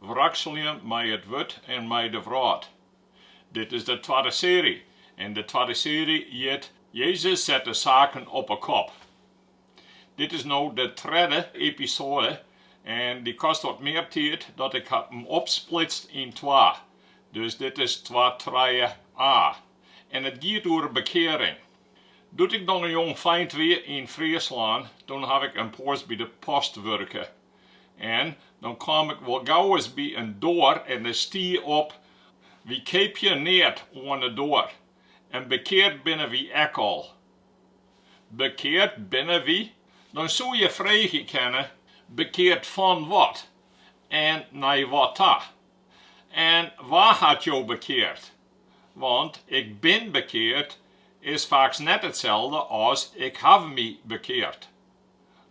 Wrakseljen mei it wurd en mei de wrâld. Dit is de twadde seary en de twadde seary hjit Jezus set de saken op 'e kop. Dit is no de tredde episoade en dy kost wat mear tiid dat ik haw him opsplitst yn twa. Dus dit is twa trije a. En it giet oer bekearing. Doe't ik noch in jongfeint wie yn Fryslân, toen haw ik in poas by de post wurke. En dan kaam ik wol gauris by in doar en dêr stie op, Wy keapje neat oan 'e doar. En bekeard binne wy ek al. Bekeard binne wy? Dan soe je freegje kinne, bekeard fan wat? En nei wat ta? En wa hat jo bekeard? Want ik bin bekeard is faaks net itselde as ik haw my bekeard.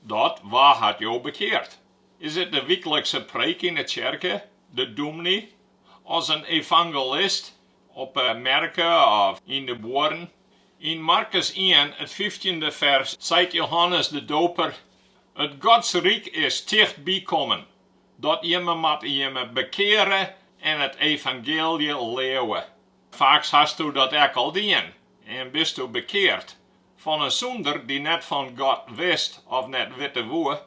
Dat, Wa hat jo bekeard? Is it de wyklikse preek yn 'e tsjerke, de dûmny as in evangelist op 'e merke of yn de buorren? Yn Markus ien, it fyftjinde fers, seit Johannes de Doper, It Godsryk is tichtby kommen, dat jimme moatte jimme bekeare en it evangeelje leauwe. Faaks hasto dat ek al dien en bisto bekeard, Fan in sûnder dy't net fan God wist of net witte woe,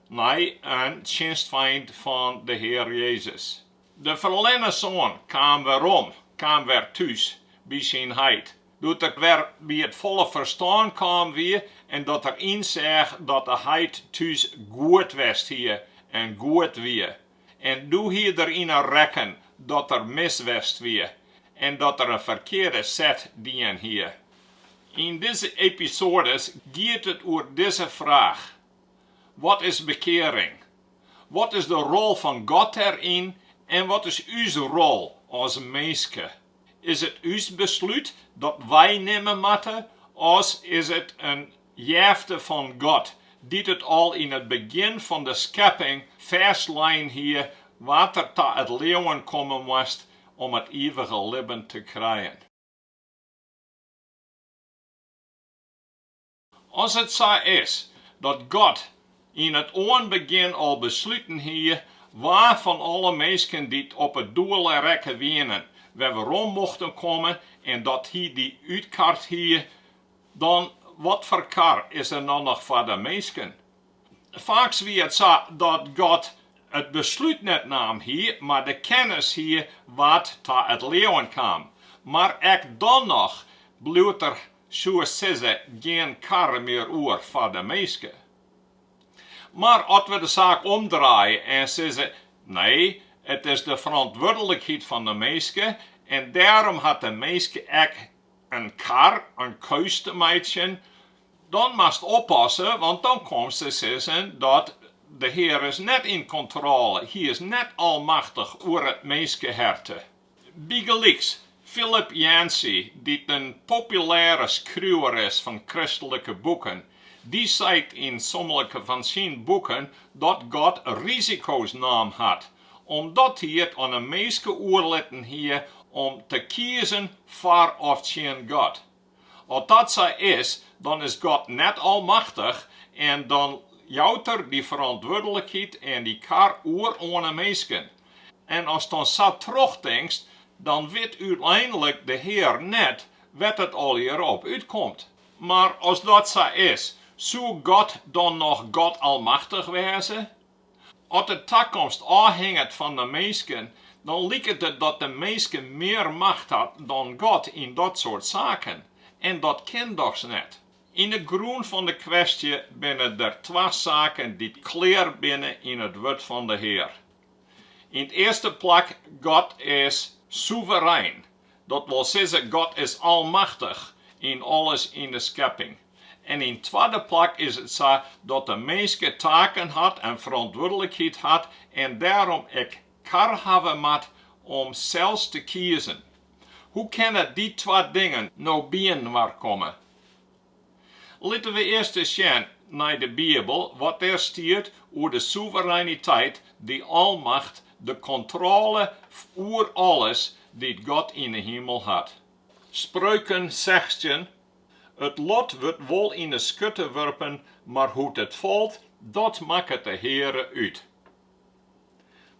nei in tsjinstfeint fan de Hear Jezus. De ferlerne soan kaam werom, kaam wer thús by syn heit. Doe't er wer by it folle ferstân kaam wie en dat er ynseach dat de heit thús goed west hie en goed wie, En doe hie er yn 'e rekken dat er mis west wie en dat er in ferkearde set dien hie. Yn dizze episoades giet it oer dizze fraach, Wat is bekearing? Wat is de rol fan God dêryn en wat is ús rol as minske? Is it ús beslút dat wy nimme moatte of is it in Jefte fan God, dy't it al yn it begjin fan de skepping fêstlein hie wa't er ta it leauwen komme moast om it ivige libben te krijen. As it sa is dat God yn it oanbegjin al besluten hie wa fan alle minsken dy't op 'e doele rekke wienen, wer werom mochten komme en dat Hy dy útkard hie Dan, wat foar kar is der dan noch foar de minsken? Faaks wie it sa dat God it beslút net naam hie, mar de kennis hie wa't ta it leauwen kaam. Mar ek dan noch bliuwt der soe sizze gjin kar mear oer foar de minske. Mar at we de saak omdraaie en sizze, Nee, it is de ferantwurdlikheid fan de minske en dêrom hat de minske ek in kar in keus te meitsjen, dan moatst oppasse, want dan komst te sizzen dat de Hear is net yn kontrôle, Hy is net almachtich oer it minskeherte. Bygelyks Philip Yancey, dy't in populêre skriuwer is fan kristlike boeken, dy seit yn sommige fan syn boeken dat God risiko's naam hat Omdat hy it oan 'e minske oerlitten hie om te kiezen foar of tsjin God. As dat sa is, dan is God net almachtich en dan jout er dy ferantwurdlikheid en dy kar oer oan 'e minsken. En ast dan sa trochtinkst, dan wit úteinlik de Hear net wêr't it allegear op útkomt. Mar as dat sa is, soe God dan noch God almachtich wêze? At de takomst ôfhinget fan de minsken, dan liket it dat de minske mear macht hat dan God yn dat soart saken. En dat kin dochs net. Yn de grûn fan de kwestje binne der twa saken dy't klear binne yn it Wurd fan de Hear. Yn it earste plak, God is sûverein. Dat wol sizze, God is almachtich yn alles yn de skepping. En yn twadde plak is it sa dat de minske taken hat en ferantwurdlikheid hat en dêrom ek kar hawwe moat om sels te kiezen. Hoe kinne dy twa dingen no byinoar komme? Litte we earst ris sjen nei de Bibel wat dêr stiet oer de soevereiniteit, de almacht, de kontrôle oer alles dy't God yn 'e himel hat. Spreuken sechstjin, It lot wurdt wol yn 'e skutte wurpen, mar hoe't it falt, dat makket de Heare út.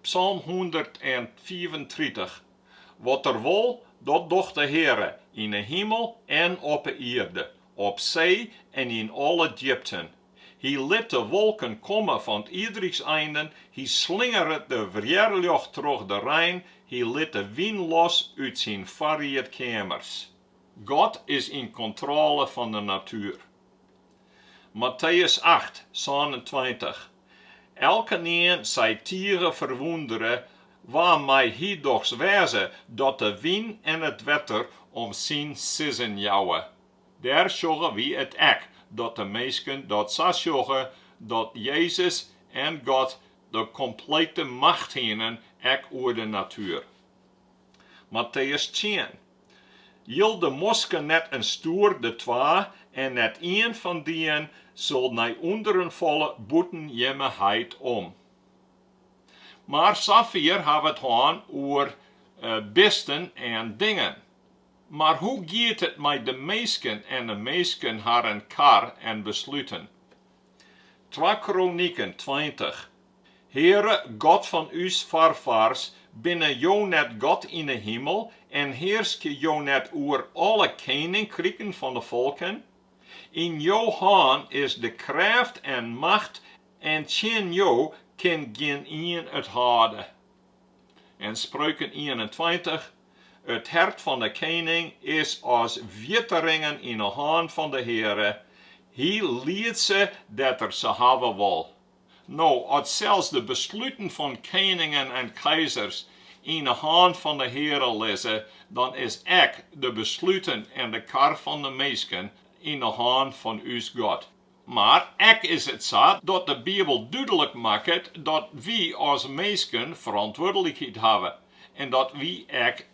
Psalm hûndertfiifentritich, Wat Er wol, dat docht de Heare, yn 'e himel en op 'e ierde, op see en yn alle djipten. Hy lit de wolken komme fan 't ierdryks einen, hy slingeret de wjerljocht troch de rein, hy lit de wyn los út syn foarriedkeamers. God is yn kontrôle fan de natuer. Matteüs acht, sânentweintich, Elkenien sei tige ferwûndere, Wa mei hy dochs wêze dat de wyn en it wetter om syn sizzen jouwe? Dêr sjogge wy it ek, dat de minsken dat sa sjogge, dat Jezus en God de komplete macht hienen, ek oer de natuer. Matteus tsien. Jilde mosken net en stoer de twa, en net ien fan dien sil nei ûnderen falle bûten jimme heit om. Mar safier't wy hawwe it hân oer bisten en dingen. Mar hoe giet it mei de minsken en de minsken harren kar en besluten? Twa Kroniken tweintich. Heare, God fan ús foarfaars, binne Jo net God yn 'e himel en hearskje Jo net oer alle keninkriken fan 'e folken? Yn Jo hân is de krêft en macht en tsjin Jo kin gjinien it hâlde. En Spreuken ienentweintich, It hert fan 'e kening is as wetteringen yn 'e hân fan de Heare, Hy liedt se dêr't Er se hawwe wol. No, as sels de besluten fan keningen en keizers yn 'e hân fan 'e Heare lizze, dan is ek de besluten en de kar fan de minsken yn 'e hân fan ús God. Mar ek is it sa dat de Bibel dúdlik makket dat wy as minsken ferantwurdlikheid hawwe en dat wy ek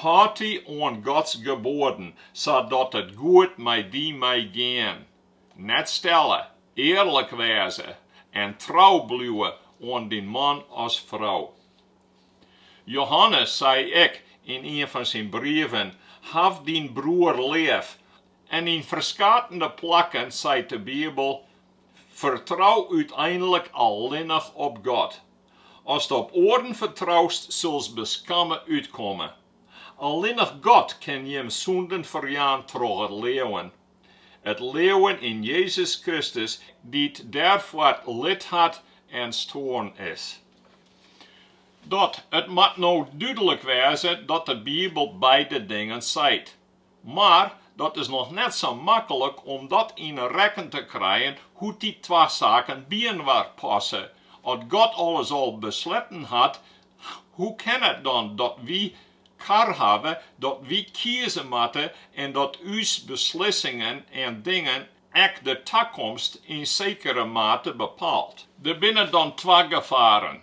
Hâld dy oan Gods geboaden, sadat it goed mei dy mei gean. Net stelle, earlik wêze en trou bliuwe oan dyn man as frou. Johannes sei ek yn ien fan syn brieven, Haw dyn broer leaf. En yn ferskatende plakken seit de Bibel, Fertrou úteinlik allinnich op God. Ast op oaren fertroust, sulst beskamme útkomme. Allinnich God kin jim sûnden ferjaan troch it leauwen. It leauwen yn Jezus Kristus, dy't dêrfoar lijd hat en stoarn is. Dat, it moat no dúdlik wêze dat de Bibel beide dingen seit. Mar dat is noch net sa maklik om dat yn 'e rekken te krijen hoe't dy twa saken byinoar passe. As God alles al besletten hat, hoe kin it dan dat wy kar hawwe, dat wy kieze moatte en dat ús beslissingen en dingen ek de takomst yn sekere mate bepaalt? Der binne dan twa gefaren.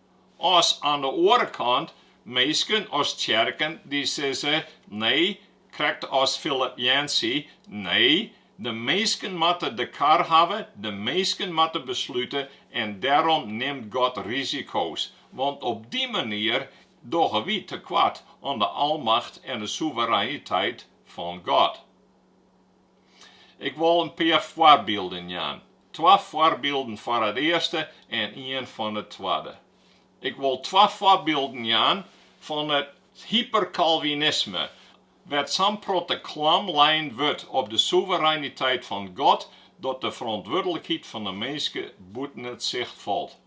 As oan de oare kant minsken of tsjerken dy't sizze, nee, krekt as Philip Yancey, nee, de minsken moatte de kar hawwe, de minsken moatte beslute en dêrom nimt God risiko's, want op dy manier dogge wy tekoart oan de almacht en de soevereiniteit fan God. Ik wol in pear foarbylden jaan. Twa foarbylden foar it earste en ien fan it twadde. Ik wol twa foarbylden jaan fan it hyperkalvinisme, wêr't sa'n protte klam lein wurdt op de soevereiniteit fan God dat de ferantwurdlikheid fan de minske bûten it sicht falt.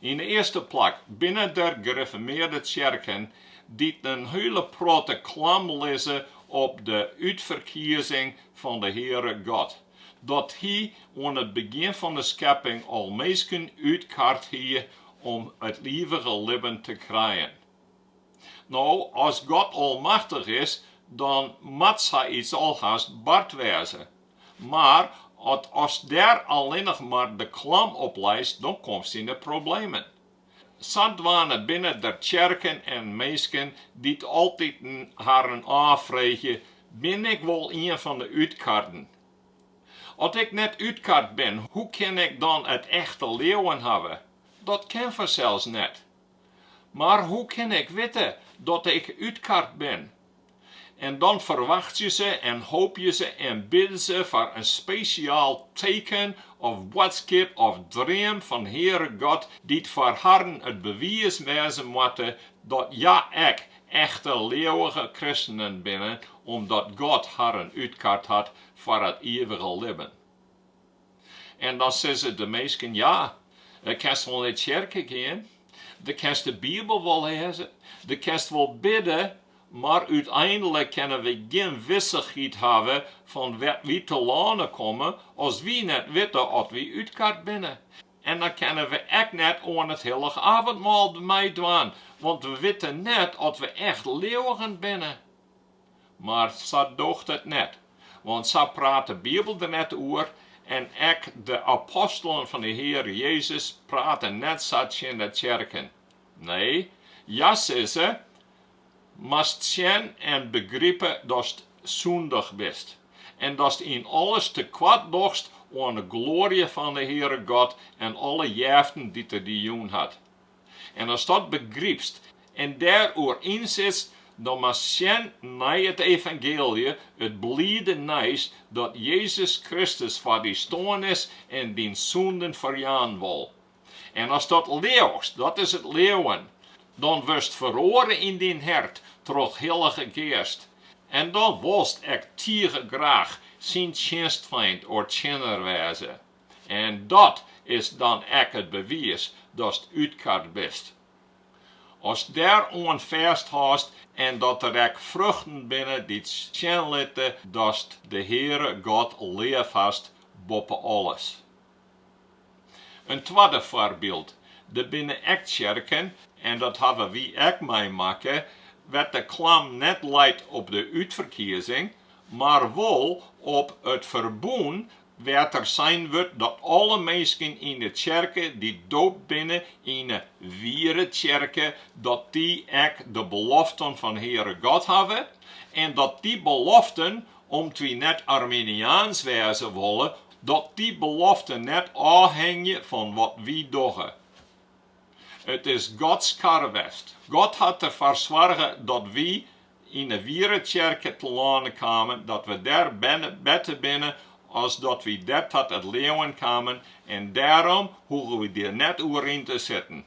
Yn de earste plak binne der griffermearde tsjerken dy't in hiele protte klam lizze op de útferkiezing fan de Heare God, dat Hy oan it begjin fan de skepping al minsken útkard hie om it ivige libben te krijen. No, as God almachtich is, dan moat sa iets alhast bard wêze. Mar ast dêr allinnich mar de klam op leist, dan komst yn de problemen. Sadwaande binne der tsjerken en minsken dy't altyd harren ôffreegje, Bin ik wol ien fan de útkarden? At ik net útkard bin, hoe kin ik dan it echte leauwen hawwe? Dat kin fansels net. Mar hoe kin ik witte dat ik útkard bin? En dan ferwachtsje se en hoopje se en bidde se foar in spesjaal teken of boadskip of dream fan Heare God dy't foar harren it bewiis wêze moatte dat hja ek echte leauwige kristenen binne omdat God harren útkard hat foar it ievige libben. En dan sizze de minsken, Ja, dan kinst wol nei tsjerke gean, dan kinst de Bibel wol lêze, dan kinst wol bidde, mar úteinlik kinne wy gjin wissichheid hawwe fan wêr't wy telâne komme as wy net witte oft wy útkard binne. En dan kinne we ek net oan it hillich avendmaal meidwaan, want we witte net oft we echt leauwigen binne. Mar sa doocht it net, want sa praat de Bibel der net oer en ek de apostelen fan de Heare Jezus prate net sa tsjin de tsjerken. Nee, hja sizze, Moatst sjen en begripe datst sûndich bist en datst yn alles tekoart dochst oan de gloarje fan de Heare God en alle jeften dy't Er dy jûn hat. En as dat begrypst en der oer ynsitst, dan moatst sjen nei it evangeelje, it bliede nijs dat Jezus Kristus foar dy stoarn is en dyn sûnden ferjaan wol. En as dat leauchst, dat is it leauwen, dan wurdst feroare yn dyn hert troch de Hillige Geast en dan wolst ek tige graach syn tsjinstfeint of tsjinner wêze. En dat is dan ek it bewiis datst útkard bist. Ast dêr oan fêst hâldst en dat der ek fruchten binne dy't sjen litte datst de Heare God leaf hast boppe alles. In twadde foarbyld, der binne ek tsjerken, en dat hawwe wy ek meimakke, wêr't de klam net leit op de útferkiezing, mar wol op it ferbûn wêr't der sein wurdt dat alle minsken yn 'e tsjerke dy't doopt binne yn 'e wiere tsjerke, dat dy ek de beloften fan de Heare God hawwe, en dat dy beloften, om't wy net Arminiaans wêze wolle, dat dy beloften net ôfhingje fan wat wy dogge. It is Gods karwest. God hat derfoar soarge dat wy yn de wiere tsjerke telâne kamen, dat we dêr berne binne as dat wy dêr ta it leauwen kamen en dêrom hoege we der net oer yn te sitten,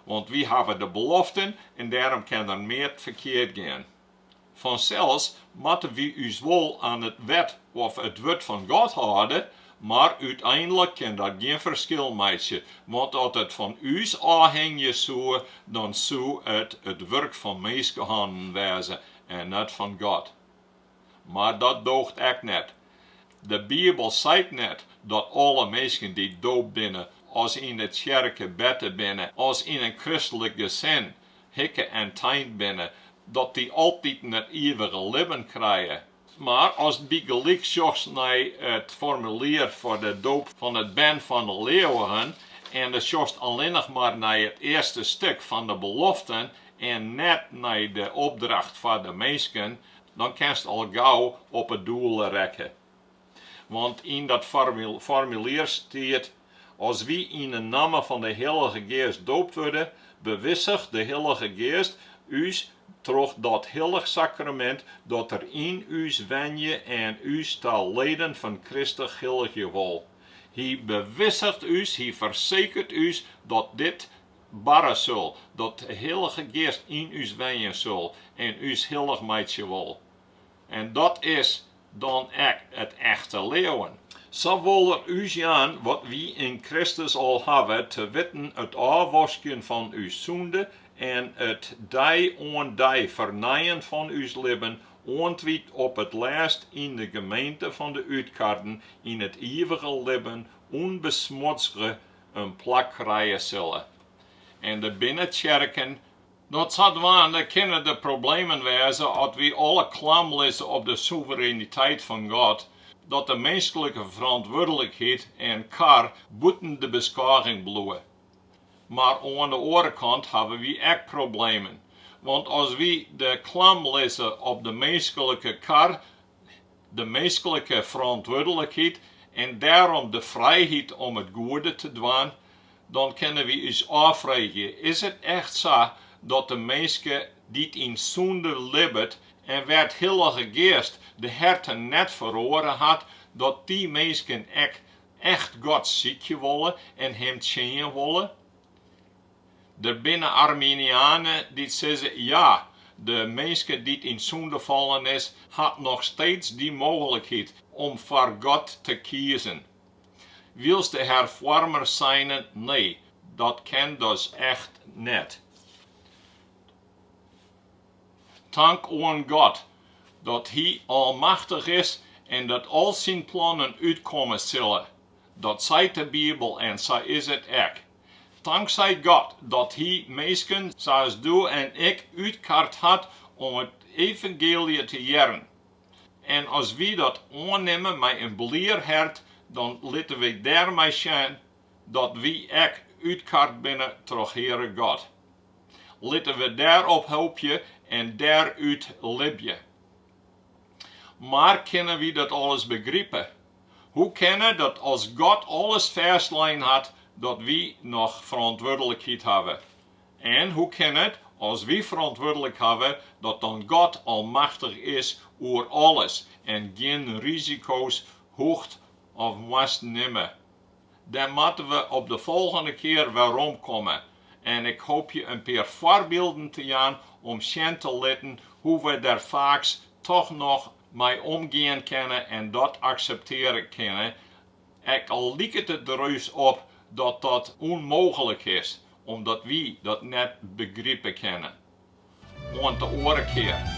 want wy hawwe de beloften en dêrom kin der neat mear ferkeard gean. Fansels moatte wy ús wol oan it wet of it wurd fan God hâlde, Mar úteinlik kin dat gjin ferskil meitsje, want as it fan ús ôfhingje soe, dan soe it it wurk fan minskenhannen wêze en net fan God. Mar dat dooch ek net. De Bibel seit net dat alle minsken dy't doopt binne as yn de tsjerke berne binne as yn in kristlik gesin hikke en tein binne, dat dy altiten it ivige libben krije. Mar as bygelyks sjochst nei it formulier foar de doop fan it bern fan de leauwigen en do sjochst allinnich mar nei it earste stuk fan de beloften en net nei de opdracht foar de minsken, dan kinst al gau op 'e doele reitsje. Want yn dat formulier stiet As wy yn 'e namme fan 'e Hillige Geast doopt wurde, bewissicht de Hillige Geast ús troch dat hillich sakramint dat Er yn ús wenje en ús ta leden fan Kristus hilligje wol. Hy bewissicht ús, Hy fersekert ús dat dit barre sil, dat de Hillige Geast yn ús wenje sil en ús hillich meitsje wol. En dat is dan ek it echte leauwen. Sa wol er ús jaan wat wy yn Kristus al hawwe, te witten it ôfwaskjen fan ús sûnde en it dei oan dei fernijen fan ús libben, oant wy op it lêst yn de gemeente fan de útkarden yn it ivige libben ûnbesmodzge in plak krije sille. En der binne tsjerken Dat sadwaande kinne der problemen wêze as wy alle klam lizze op de soevereiniteit fan God, dat de minsklike ferantwurdlikheid en kar bûten de beskôging bliuwe. Mar oan de oare kant hawwe wy ek problemen, want as wy de klam lizze op de minsklike kar, de minsklike ferantwurdlikheid en dêrom de frijheid om it goede te dwaan, dan kinne wy ús ôffreegje, is it echt sa dat de minske dy't yn sûnde libbet en wêr't de Hillige Geast de herten net feroare hat, dat dy minsken ek echt God sykje wolle en Him tsjinje wolle? Der binne Arminianen dy't sizze, ja, de minske dy't yn sûnde fallen is, hat noch steeds dy mooglikheid om foar God te kiezen. Wylst de herfoarmers seine, nee, dat kin dus echt net. Tank oan God dat Hy almachtich is en dat al syn plannen útkomme sille. Dat seit de Bibel en sa is it ek. Tanksij God dat Hy minsken sa as dû en ik útkard hat om it evangeelje te hearren. En as wy dat oannimme mei in blier hert, dan litte wy dêrmei sjen dat wy ek útkard binne troch Heare God. Litte we dêrop hoopje en dêrút libje. Mar kinne wy dat alles begripe? Hoe kin it dat as God alles fêstlein hat, dat wy noch ferantwurdlikheid hawwe? En hoe kin it, as wy ferantwurdlik hawwe, dat dan God almachtich is oer alles en gjin risiko's hoecht of moast nimme? Dêr moatte we op de folgjende kear weromkomme en ik hoopje in pear foarbylden te jaan om sjen te litten hoe we dêr faaks toch noch mei omgean kinne en dat akseptearje kinne, ek al liket it der dus op dat dat ûnmooglik is omdat wy dat net begripe kinne. Oant de oare kear.